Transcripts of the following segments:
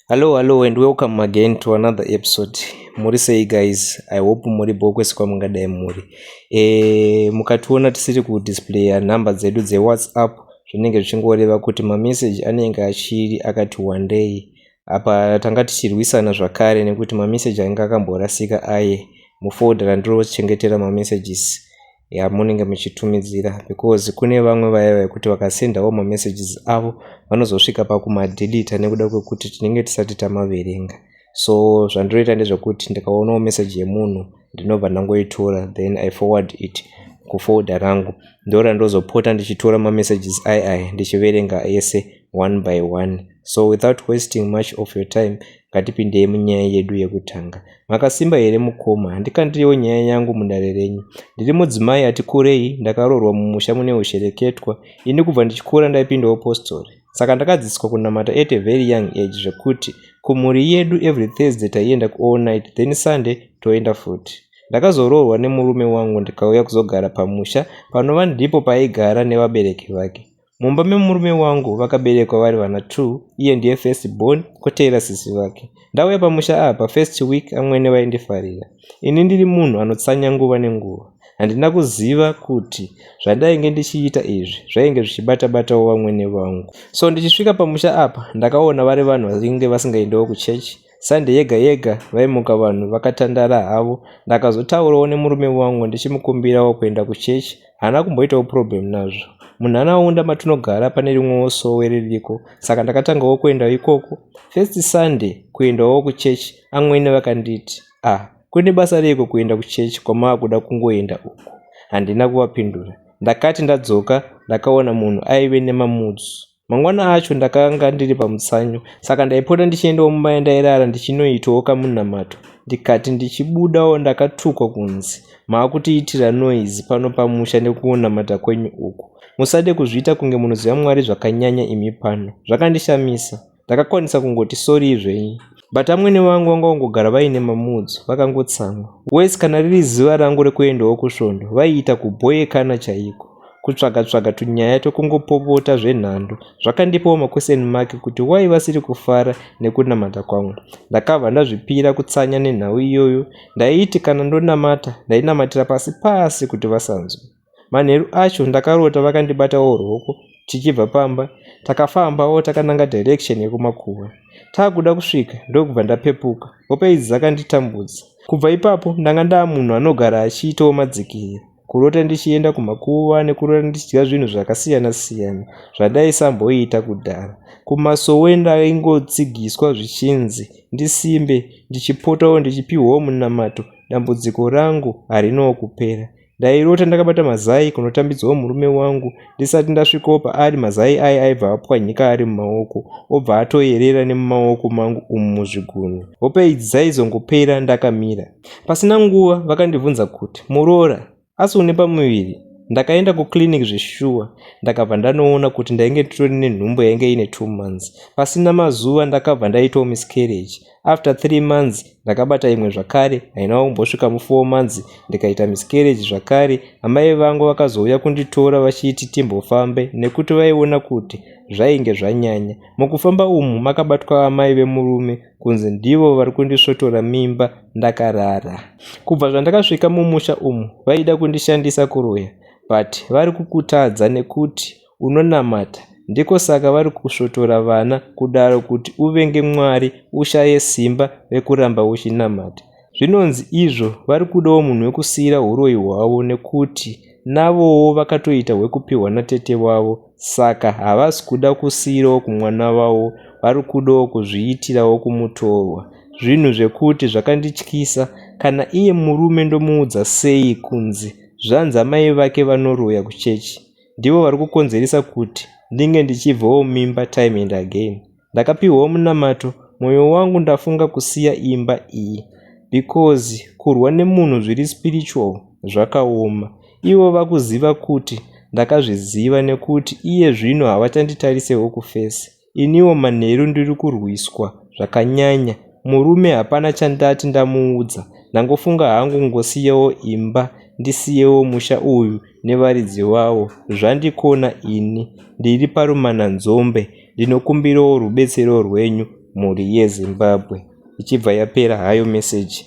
Hello, hello and welcome again to another episode. Muri sei guys? I hope muri bho kwese kwamungadai muri. E, mukationa tisiri kudisplaya nhamba dzedu dzewhatsapp zvinenge zvichingoreva kuti mameseji anenge achiri akati wandei. Apa tanga tichirwisana zvakare nekuti mameseji ainge akamborasika aye mufolder randirochengetera mamessages. yamunenge muchitumidzira because kune vamwe vaya vekuti vakasendawo mamessages avo vanozosvika pakumadilita nekuda kwekuti tinenge tisati tamaverenga so zvandinoita ndezvekuti ndikaonawo message yemunhu ndinobva ndangoitora then i forward it kufolda rangu ndora ndozopota ndichitora mamessages ai ai ndichiverenga ese one by one so without wasting much of your time ngatipindei munyaya yedu yekutanga makasimba here mukoma handikandirewo nyaya yangu mudare renyu ndiri mudzimai ati kurei ndakaroorwa mumusha mune ushereketwa ini kubva ndichikura ndaipindawo postori saka ndakadzidziswa kunamata at a very young age zvekuti kumhuri yedu every thursday taienda kuall night then sunday toenda futi ndakazoroorwa nemurume wangu ndikauya kuzogara pamusha panova ndipo paaigara nevabereki vake mumba memurume wangu vakaberekwa vari vana t iye ndiye first born kotevera sisi vake ndauya pamusha apa first week amwene vaindifarira ini ndiri munhu anotsanya nguva nenguva handina kuziva kuti zvandainge ndichiita izvi zvainge zvichibata batawo vamwene vangu so ndichisvika pamusha apa ndakaona vari vanhu vainge vasingaendewo kuchechi Sunday yega yega vaimuka vanhu vakatandara havo. Ndakazotaurawo nemurume wangu ndichimukumbirawo kuenda kuchechi. Haana kumboitawo problem nazvo. Munharaunda matinogara pane rimwewo sowe ririko saka ndakatangawo kuendawo ikoko. First Sunday kuendawo kuchechi amwene vakanditi, ah kune basa reiko kuenda kuchechi kwamaakuda kungoenda uku. Handina kuvapindura. Ndakati ndadzoka ndakaona munhu aive nemamudzu. Mangwana acho ndakanga ndiri pamutsanyo saka ndaipota ndichiendawo mumba yandairara ndichinoitawo kamunamato ndikati ndichibudawo ndakatukwa kunzi maakutiitira noise pano pamusha nekunamata kwenyu uku musade kuzviita kunge munoziva mwari zvakanyanya imi pano zvakandishamisa ndakakwanisa kungoti sorii zvenyu But amwene vangu vanga vangogara vaine mamoods vakangotsamwa. Worse kana riri zuva rangu rekuendawo kusvondo vaiita kubhoyekana chaiko. Kutsvaga tsvaga tunyaya twekungopopota zvenhando. Zvakandipawo maquestion mark kuti why vasiri kufara nekunamata kwangu. Ndakabva ndazvipira kutsanya nenhau iyoyo. Ndaiti kana ndonamata ndainamatira pasi pasi kuti vasanzwe. Manheru acho ndakarota vakandibatawo ruoko tichibva pamba takafambawo takananga direction yekumakuva takuda kusvika ndokubva ndapepuka hope idzi dzakanditambudza kubva ipapo ndanga ndaa munhu anogara achiitawo madzikira kurota ndichienda kumakuva nekurota ndichidya zvinhu zvakasiyana siyana zvandaisamboita kudhara kumasowe ndaingotsigiswa zvichinzi ndisimbe ndichipotawo ndichipiwawo munamato dambudziko rangu harinawo kupera Ndairota ndakabata mazai kunotambidzwawo murume wangu ndisati ndasvikawo paari mazai aye aibva apwanyika ari mumaoko obva atoyerera nemumaoko mangu umu muzvigunwe. Hope idzi dzaizongopera ndakamira. Pasina nguva vakandibvunza kuti muroora asi une pamuviri ndakaenda kuclinic zveshuwa ndakabva ndanoona kuti ndainge nditori nenhumbu yainge ine two months pasina mazuva ndakabva ndaitawo miscarriage after three months ndakabata imwe zvakare haina kumbosvika mufour months ndikaita miscarriage zvakare amai vangu vakazouya kunditora vachiti timbofambe nekuti vaiona kuti zvainge zvanyanya mukufamba umu makabatwa amai vemurume kunzi ndivo vari kundisvotora mimba ndakarara kubva zvandakasvika mumusha umu vaida kundishandisa kuroya but vari kukutadza nekuti unonamata ndiko saka vari kusvotora vana kudaro kuti uvenge Mwari ushaye simba rekuramba uchinamata. Zvinonzi izvo vari kudawo munhu wekusiira huroyi hwavo nekuti navowo vakatoita hwekupihwa natete vavo saka havasi kuda kusiirawo kumwana vavo vari kudawo kuzviitirawo kumutorwa. Zvinhu zvekuti zvakandityisa kana iye murume ndomuudza sei kunzi zvanzi amai vake vanoroya kuchechi. ndivo vari kukonzeresa kuti ndinge ndichibvawo mimba time and again ndakapihwawo munamato mwoyo wangu ndafunga kusiya imba iyi because kurwa nemunhu zviri spiritual zvakaoma ivo vakuziva kuti ndakazviziva nekuti iye zvino havachanditarisewo kufesi iniwo manheru ndiri kurwiswa zvakanyanya murume hapana chandati ndamuudza ndangofunga hangu ngosiyewo imba ndisiyewo musha uyu nevaridzi vawo zvandikona ini ndiri parumananzombe ndinokumbirawo rubetsero rwenyu mhuri yezimbabwe ichibva yapera hayo meseji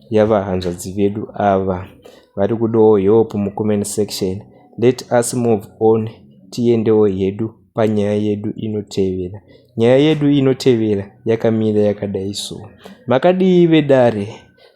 yavahanzvadzi vedu ava vari kudawo help mucomment section let us move on tiendewo hedu panyaya yedu inotevera. Nyaya yedu inotevera yakamira yakadai so. Makadii vedare?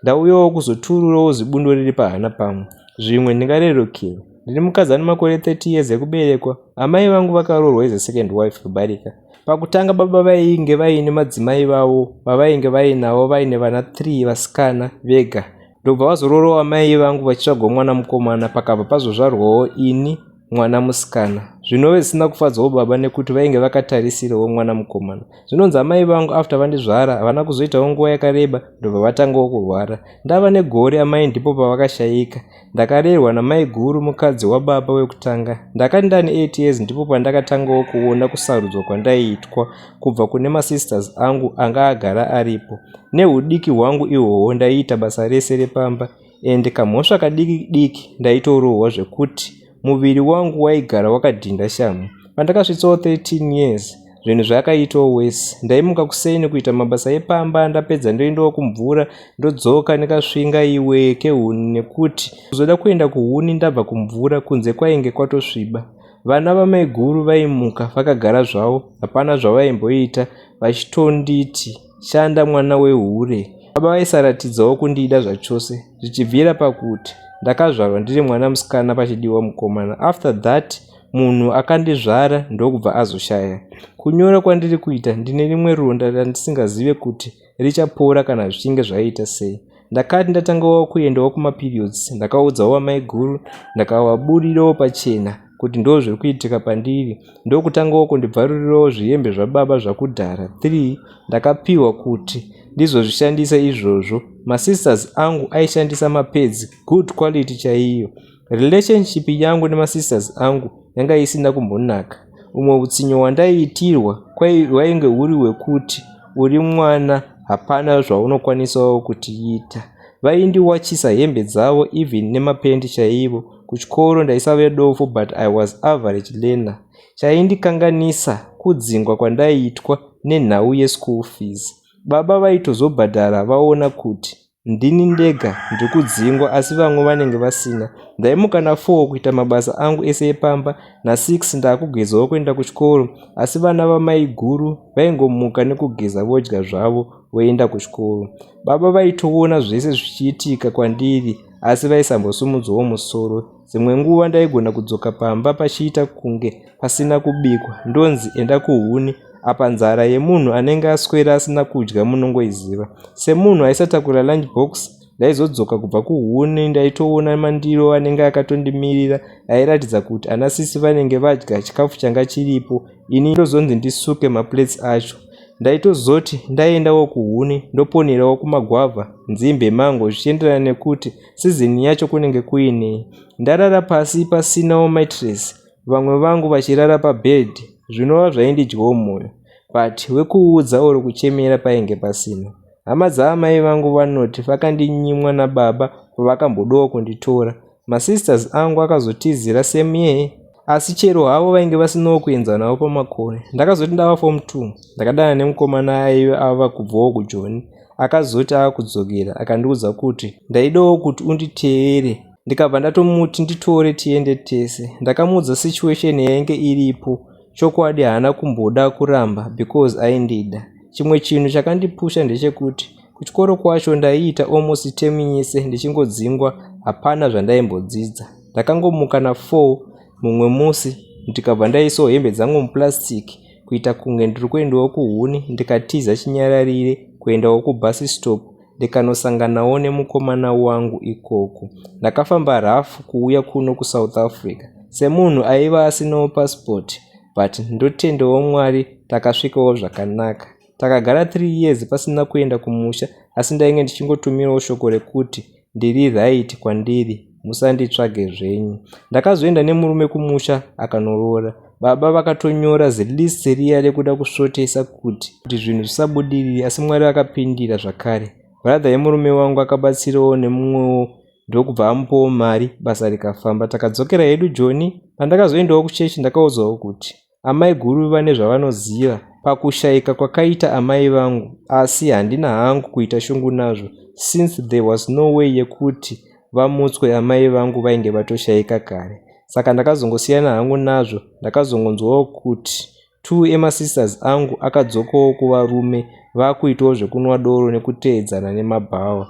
Ndauyawo kuzotururawo zibundo riri pahana pangu. Zvimwe ndingarerukirwa. Ndine mukadzi ane makore 30 years ekuberekwa. Amai vangu vakaroorwa is a second wife kubarika. Pakutanga baba vainge vaine madzimai vavo vavainge vainavo vaine vana 3 vasikana vega. Ndobva vazororawo amai vangu vachitsvagwa mwana mukomana pakabva pazozvarwawo ini mwana musikana zvinove zvisina kufadzawo baba nekuti vainge vakatarisirawo mwana mukomana zvinonzi amai vangu after vandizvara havana kuzoitawo nguva yakareba ndobva vatangawo kurwara ndava negore amai ndipo pavakashayika ndakarerwa namai guru mukadzi wababa wekutanga ndakati ndani 8 years ndipo pandakatangawo kuona kusarudzwa kwandaiitwa kubva kune masisters angu anga agara aripo neudiki hwangu ihwohwo ndaiita basa rese repamba ende kamhosva kadiki diki ndaitorohwa zvekuti muviri wangu waigara wakadhinda shamhu. Pandakasvitsawo 13 years zvinhu zvakaitawo worse. Ndaimuka kuseni kuita mabasa epamba ndapedza ndoendawo kumvura ndodzoka ndikasvinga iwe kehuni nekuti kuzoda kuenda kuhuni ndabva kumvura kunze kwainge kwatosviba. Vana vamaiguru vaimuka vakagara zvavo hapana zvavaimboita vachitonditi. Shanda mwana wehure. Baba vaisaratidzawo kundida zvachose zvichibvira pakuti ndakazvarwa ndiri mwana musikana pachidiwa mukomana after that munhu akandizvara ndokubva azoshaya. Kunyora kwandiri kuita ndine rimwe ronda randisingazive kuti richapora kana zvichinge zvaita sei. ndakati ndatangawo kuendawo kumaperiods ndakaudzawo vamaiguru ndakavaburirawo pachena kuti ndo zviri kuitika pandiri ndokutangawo kundibvarurirawo zvihembe zvababa zvakudhara 3 ndakapiwa kuti ndizozvishandisa izvozvo masisters angu aishandisa mapedzi good quality chaiyo Relationship yangu nemasisters angu yanga isina kumbonaka. Umwe utsinye hwandaiitirwa hwainge huri hwekuti uri mwana hapana zvaunokwanisawo kutiita. Vaindiwachisa hembe dzavo even nemapendi chaivo. Kuchikoro ndaisave dofo but I was average learner. Chaindikanganisa kudzingwa kwandaiitwa nenhau yeschool fees. Baba vaitozobhadhara vaona kuti Ndini ndega ndiri kudzingwa asi vamwe vanenge vasina. Ndaimuka na4 kuita mabasa angu ese epamba, na6 ndakugezwawo kuenda kuchikoro asi vana vamaiguru vaingomuka nekugeza vodya zvavo voenda kuchikoro. Baba vaitoona zvese zvichiitika kwandiri asi vaisambosumudzawo musoro. Dzimwe nguva ndaigona kudzoka pamba pachiita kunge pasina kubikwa ndonzi enda kuhuni apa nzara yemunhu anenge aswera asina kudya munongoiziva. Semunhu aisatakura lunch box ndaizodzoka kubva kuhuni ndaitoona mandiro anenge akatondimirira airatidza kuti ana sisi vanenge vadya chikafu changa chiripo ini ndozonzi ndisuke maplates acho ndaitozoti ndaendawo kuhuni ndoponerawo kumagwavha nzimbe mango zvichienderana nekuti Season yacho kunenge kuine ndarara pasi pasinawo mattress vamwe vangu vachirara pabed zvinova zvaindidyawo moyo but wekuudza or kuchemera painge pasina. Hama dzaamai vangu vanoti vakandinyimwa nababa pavakambodawo kunditora. Masisters angu akazotizira same year asi chero havo vainge vasinawo kuenzana navo pamakore ndakazoti ndava form two ndakadana nemukomana aive ava kubvawo kujoni akazoti ava kudzokera akandiudza kuti ndaidawo kuti unditeere ndikabva ndatomuti nditore tiende tese ndakamuudza situation yainge iripo chokwadi haana kumboda kuramba because aindida chimwe chinhu chakandipusha ndechekuti Kuchikoro kwacho ndaiita almost term yese ndichingodzingwa hapana zvandaimbodzidza. Ndakangomuka na 4 mumwe musi ndikabva ndaisawo hembe dzangu muplastic kuita kunge ndiri kuendawo kuhuni ndikatiza chinyararire kuendawo kubus stop ndikanosanganawo nemukomana wangu ikoko. Ndakafamba rough kuuya kuno kuSouth Africa semunhu aiva asinawo passport but ndotendawo Mwari takasvikawo zvakanaka. Takagara three years pasina kuenda kumusha asi ndainge ndichingotumirawo shoko rekuti ndiri right kwandiri musanditsvage zvenyu. Ndakazoenda nemurume kumusha akanoroora. Baba vakatonyora zilist riya rekuda kusvotesa kuti kuti zvinhu zvisabudirire asi Mwari vakapindira zvakare. Brother yemurume wangu akabatsirawo nemumwewo ndokubva amupawo mari basa rikafamba. Takadzokera hedu Joni. Pandakazoendawo kuchechi ndakaudzwawo kuti Amaiguru vane zvavanoziva pakushaika kwakaita amai vangu asi handina hangu kuita shungu nazvo since there was no way yekuti vamutswe amai vangu vainge vatoshaika kare saka ndakazongosiyana hangu nazvo ndakazongonzwawo kuti two emasisters angu akadzokawo kuva rume vakuitawo zvekunwa doro nekuteedzana nemabhawa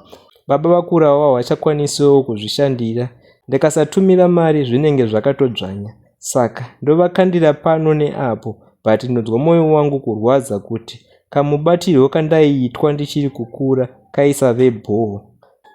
baba vakurawo vahwachakwanisiwo kuzvishandira ndikasatumira mari zvinenge zvakatodzvanya Saka ndovakandira pano neapo but ndinonzwa moyo wangu kurwadza kuti kamubatirwo kandaiitwa ndichiri kukura kaisave bhoo.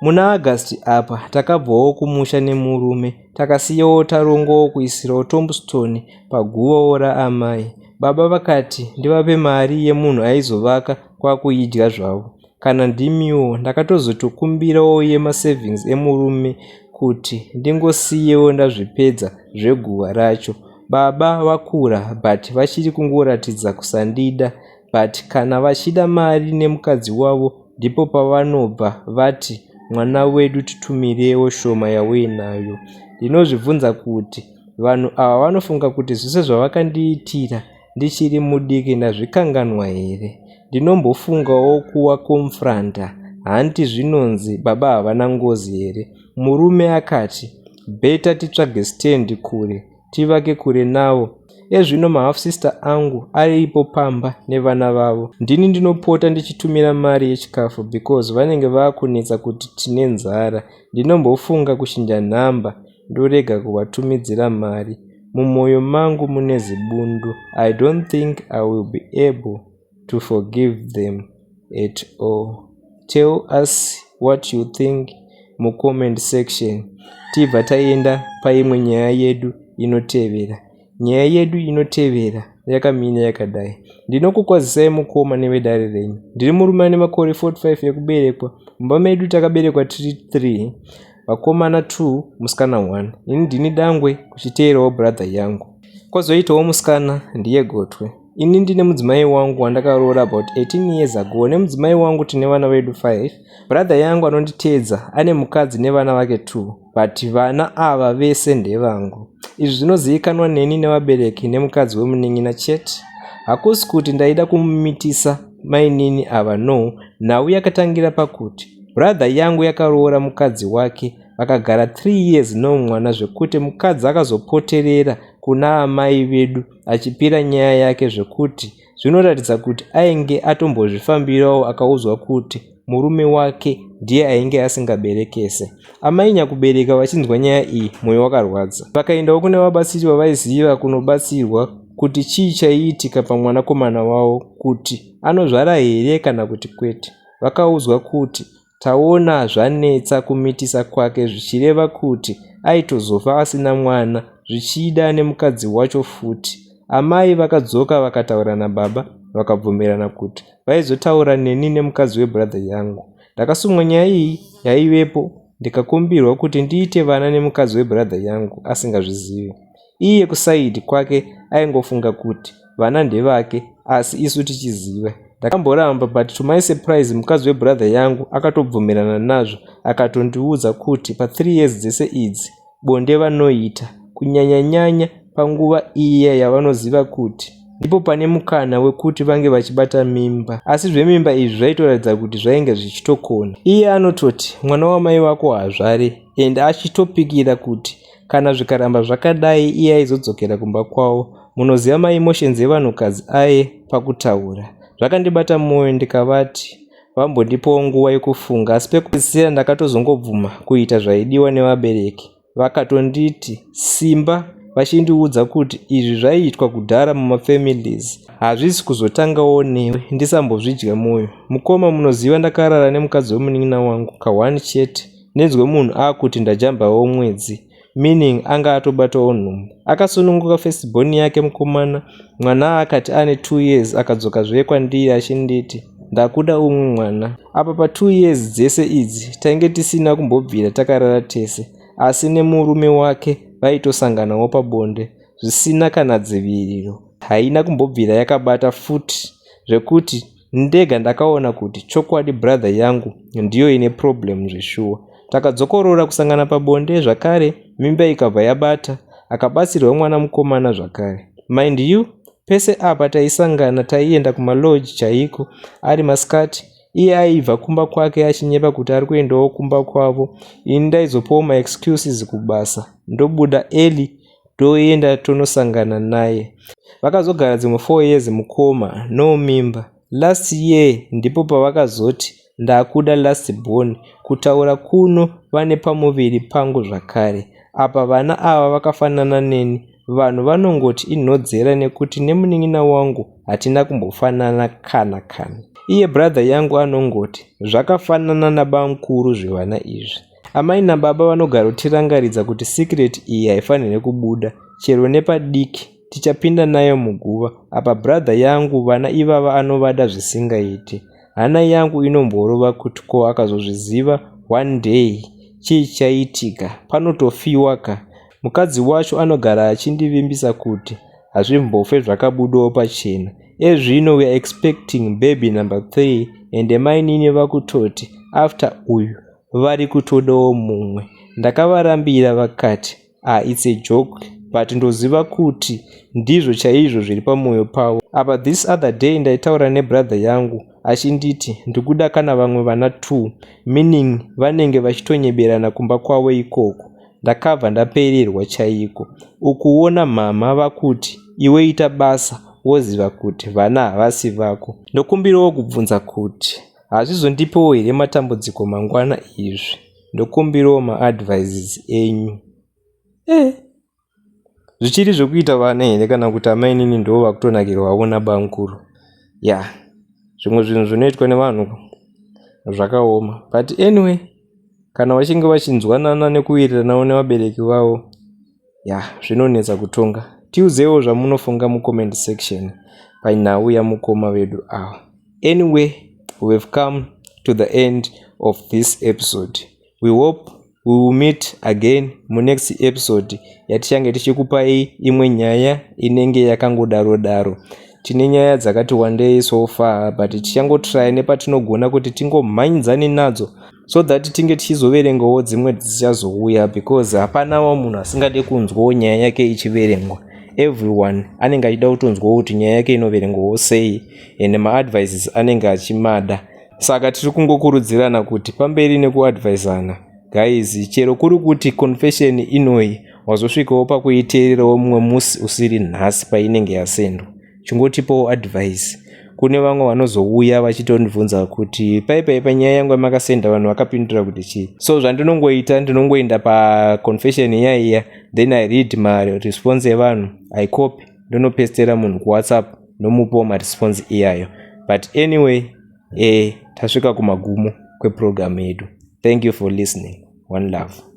Muna August apa takabvawo kumusha nemurume takasiyawo tarongowo kuisirawo tombstone paguvawo raamai. Baba vakati ndivape mari yemunhu aizovaka kwakuidya zvavo. Kana ndimiwo ndakatozotokumbirawo yema savings emurume kuti ndingosiyewo ndazvipedza zveguhwa racho. Baba vakura but vachiri kungoratidza kusandida but kana vachida mari nemukadzi wavo ndipo pavanobva vati mwana wedu titumirewo shoma yauinayo. Ndinozvibvunza kuti vanhu ava vanofunga kuti zvese zvavakandiitira ndichiri mudiki ndazvikanganwa here ndinombofungawo kuwa confronta hanti zvinonzi baba havana ngozi here murume akati better titsvage stand kure tivake kure navo ezvino mahalf sister angu aripo pamba nevana vavo ndini ndinopota ndichitumira mari yechikafu because vanenge vakunetsa kuti tine nzara ndinombofunga kuchinja nhamba ndorega kuvatumidzira mari mumoyo mangu mune zibundu I don't think I will be able to forgive them at all tell us what you think mucomment section tibva taenda paimwe nyaya yedu inotevera Nyaya yedu inotevera yakamira yakadai. Ndinokukwazisai mukoma nevedare renyu. Ndiri murume ane makore 45 ekuberekwa. Mumba medu takaberekwa tiri 3, vakomana 2, musikana 1. Ini ndini dangwe kuchiteerawo brother yangu. Kozoitawo musikana ndiye gotwe. Ini ndine mudzimai wangu wandakaroora about 18 years ago nemudzimai wangu tine vana vedu 5. Brother yangu anonditeedza ane mukadzi nevana vake 2. but vana ava vese ndevangu izvi zvinozivikanwa neni nevabereki nemukadzi wemunin'ina chete hakusi kuti ndaida kumumitisa mainini ava no nhau yakatangira pakuti brother yangu yakaroora mukadzi wake vakagara 3 years no mwana zvekuti mukadzi akazopoterera kuna amai vedu achipira nyaya yake zvekuti Zvinoratidza kuti ainge atombozvifambirawo akaudzwa kuti murume wake ndiye ainge asingaberekese. Amai nyakubereka vachinzwa nyaya iyi mwoyo wakarwadza. Vakaendawo kune vabatsiri vavaiziva kunobatsirwa kuti chii chaiitika pamwanakomana wavo kuti anozvara here kana kuti kwete. Vakaudzwa kuti Taona zvanetsa kumitisa kwake zvichireva kuti aitozofa asina mwana zvichida nemukadzi wacho futi. Amai vakadzoka vakataura nababa vakabvumirana kuti vaizotaura neni nemukadzi webrother yangu. Ndakasumwa nyaya iyi yaivepo ndikakumbirwa kuti ndiite vana nemukadzi webrother yangu asingazvizivi. Iye kuside kwake aingofunga kuti vana ndevake asi isu tichiziva. Ndakamboramba but to my surprise mukadzi webrother yangu akatobvumirana nazvo akatondiudza kuti pathree years dzese idzi bonde vanoita kunyanyanyanya panguva iya yavanoziva kuti ndipo pane mukana wekuti vange vachibata mimba asi zvemimba izvi zvaitoratidza kuti zvainge zvichitokona iye anototi mwana wamai vako hazvare and achitopikira kuti kana zvikaramba zvakadai iye aizodzokera kumba kwavo munoziva maemotions evanhukadzi aye pakutaura zvakandibata mwoyo ndikavati vambondipawo nguva yekufunga asi pekupedzisira ndakatozongobvuma kuita zvaidiwa nevabereki vakatonditi simba vachindiudza kuti izvi zvaiitwa kudhara mumafamilies hazvisi kuzotangawo newe ndisambozvidya mwoyo mukoma munoziva ndakarara nemukadzi wemunin'ina wangu kahwani chete Ndinzwe munhu akuti ndajambawo mwedzi meaning anga atobatawo nhumbu. Akasununguka first born yake mukomana mwana akati ane two years akadzoka zve kwandiri achinditi ndakuda umwe mwana. Apa pa two years dzese idzi tainge tisina kumbobvira takarara tese asi nemurume wake vaitosanganawo pabonde zvisina kana dziviriro. Haina kumbobvira yakabata futi zvekuti Ndega ndakaona kuti chokwadi brother yangu ndiyo ine problem zveshuwa. Takadzokorora kusangana pabonde zvakare mimba ikabva yabata akabatsirwa mwana mukomana zvakare. Mind you pese apa taisangana taienda kumalodge chaiko ari masikati iye aibva kumba kwake achinyepa kuti ari kuendawo kumba kwavo ini ndaizopawo maexcuses kubasa ndobuda early toenda tonosangana naye vakazogara dzimwe four years mukoma no mimba last year ndipo pavakazoti ndakuda last born kutaura kuno vane pamuviri pangu zvakare apa vana ava vakafanana neni vanhu vanongoti inhodzera nekuti nemunin'ina wangu hatina kumbofanana kana kana iye brother yangu anongoti zvakafanana nabamkuru zvevana izvi Amai nababa vanogara kutirangaridza kuti secret iyi haifanire kubuda chero nepadiki tichapinda nayo muguva apa brother yangu vana ivava anovada zvisingaiti hana yangu inomborova kuti ko akazozviziva one day chii chaitika panotofiwa ka mukadzi wacho anogara achindivimbisa kuti hazvimbofe zvakabudawo pachena ezvino weare expecting baby number three ende mainini vakutoti after uyu vari kutodawo mumwe ndakavarambira vakati ah it's a joke but ndoziva kuti ndizvo chaizvo zviri pamwoyo pavo apa this other day ndaitaura nebrother yangu achinditi ndikuda kana vamwe vana two meaning vanenge vachitonyeberana kumba kwavo ikoko ndakabva ndapererwa chaiko ukuona mhamha vakuti iwe ita basa woziva kuti vana havasi vako ndokumbirawo kubvunza kuti Hazvizondipewo here matambudziko mangwana izvi ndokumbirawo maadvises enyu eh zvichiri zvekuita vana here kana kuti amainini ndo vakutonakirwawo nabankuru ya yeah. zvimwe zvinhu zvinoitwa nevanhu zvakaoma but anyway kana vachinge vachinzwanana nekuwiriranawo nevabereki vavo ya zvinonetsa kutonga tiuzewo zvamunofunga mucomment section panhau yamukoma vedu awa anyway we have come to the end of this episode we hope we will meet again munext episode yatichange tichikupai imwe nyaya inenge yakangodaro daro tine nyaya dzakati wandei so far but tichangotry nepatinogona kuti tingomhanyidzane nadzo so that tinge tichizoverengawo dzimwe dzichazouya because hapanawo munhu asingade kunzwawo nyaya yake ichiverengwa everyone anenge achida kutonzwawo kuti nyaya yake inoverengwawo sei and maadvices anenge achimada saka tiri kungokurudzirana kuti pamberi nekuadvisana guys chero kuri kuti confession inoyi wazosvikawo pakuiteererawo mumwe musi usiri nhasi painenge yasendwa chingotipawo advice kune vamwe vanozouya vachitondibvunza kuti paipai panyaya yangu yamakasenda vanhu vakapindura kuti chii so zvandinongoita ndinongoenda paconfession iya iya then i read maresponse evanhu i copy ndonopestera munhu kuwhatsapp nomupawo maresponse iyayo but anyway e tasvika kumagumo kweprogramu yedu thank you for listening one love